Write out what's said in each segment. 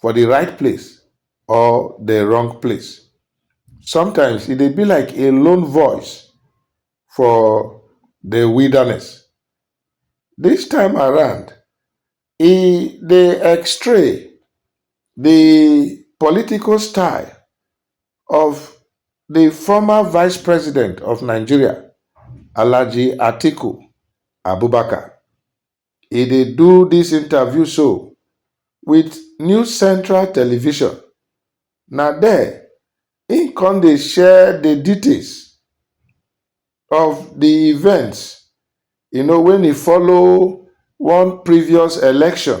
for the right place or the wrong place. Sometimes e dey be like a lone voice for the wilderness. This time around, e dey x-ray the political style of the former vice president of Nigeria, Alhaji Atiku Abubakar. E dey do dis interview so with New Central Television, na there im come dey share the details of the events you know when e follow one previous election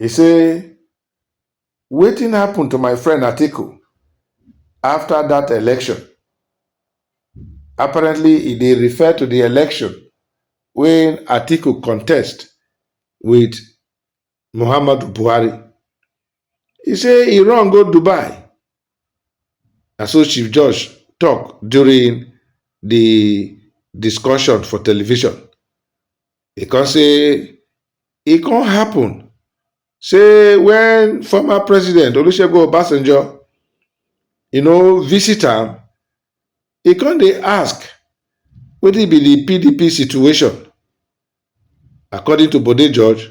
E say, Wetin happen to my friend Atiku after that election? Apparently e dey refer to the election wey Atiku contest with Muhammadu Buhari. E say e run go Dubai, na so Chief Josh talk during the discussion for television. E come say e come happen say when former president Olusegun Obasanjo you know visit am, e come dey ask wetin be the PDP situation. According to Bode George,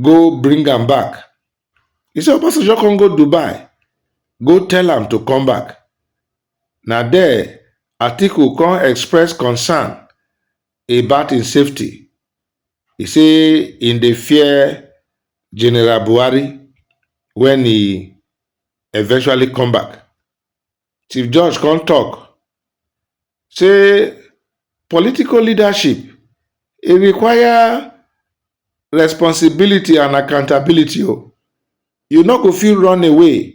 go bring am back. He say Obasanjo come go Dubai go tell am to come back. Na there Atiku come express concern about im safety. He say im dey fear General Buhari when he eventually come back. Chief Judge come talk say political leadership e require responsibility and accountability o. Oh. You no go fit run away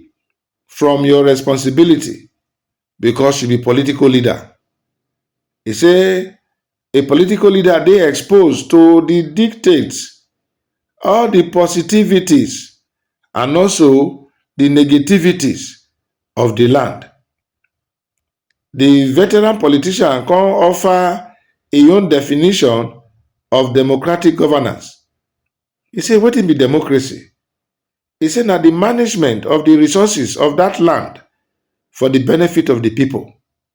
from your responsibility because you be political leader. He say A political leader dey exposed to di dictates, all di positivities and also di negativities of di land. Di veteran politician come offer im own definition of democratic governance. E say wetin be democracy? E say na di management of di resources of dat land for di benefit of di pipo.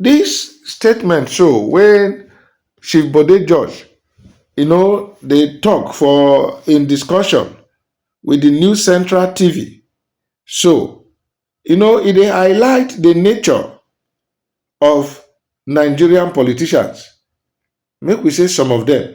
Dis statement show wen Chief Bode George um dey tok for im discussion wit di News Central TV show, um e dey highlight di nature of Nigerian politicians, make we say some of dem.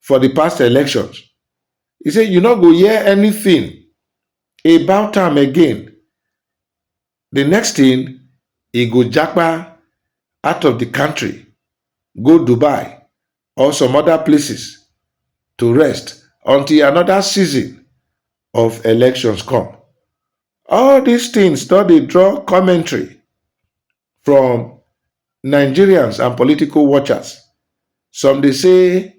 for di past elections e say you no go hear anytin about am again di next tin e go japa out of di kontri go dubai or some oda places to rest until anoda season of elections come all dis tins don dey draw commentary From Nigerians and political watchers, some dey say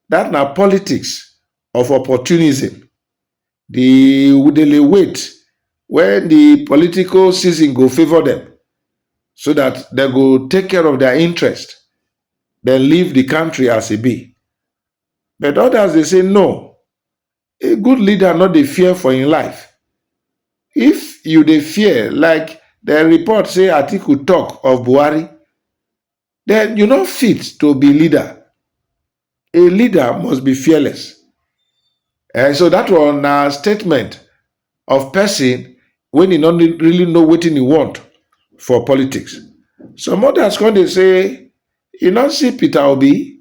dat na politics of opportunism, di wudele wait wen di political season go favour dem so dat dem go take care of dia interest den leave di kontri as e be. But odas dey say no, A good leader no dey fear for im life. If you dey fear like dem report say Atiku talk of Buhari, then you no fit to be leader. A leader must be fearless. Eh, so that one na statement of person when e no really know wetin e want for politics. Some others come dey say, you no see Peter Obi?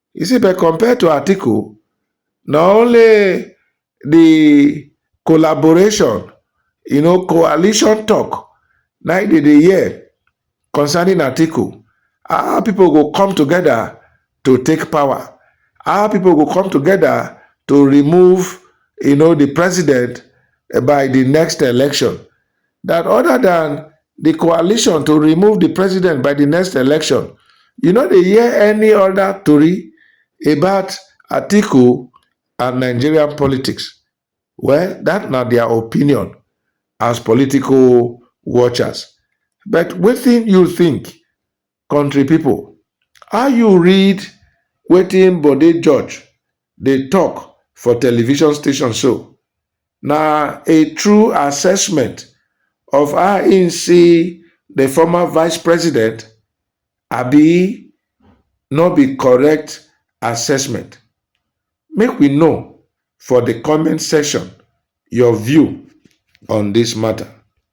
You see, but compared to Atiku, not only the collaboration, you know, coalition talk, now they dey hear concerning Atiku. Our people go come together to take power. Our people go come together to remove, you know, the president by the next election. dat oda dan di coalition to remove di president by di next election you no dey hear any oda tori about atiku and nigerian politics well dat na dia opinion as political watchers but wetin you think? Country people, how you read wetin Bode George dey talk for television station so? Na a true assessment of how im see the former vice president abi no be correct assessment? Make we know for the comment section your view on this matter.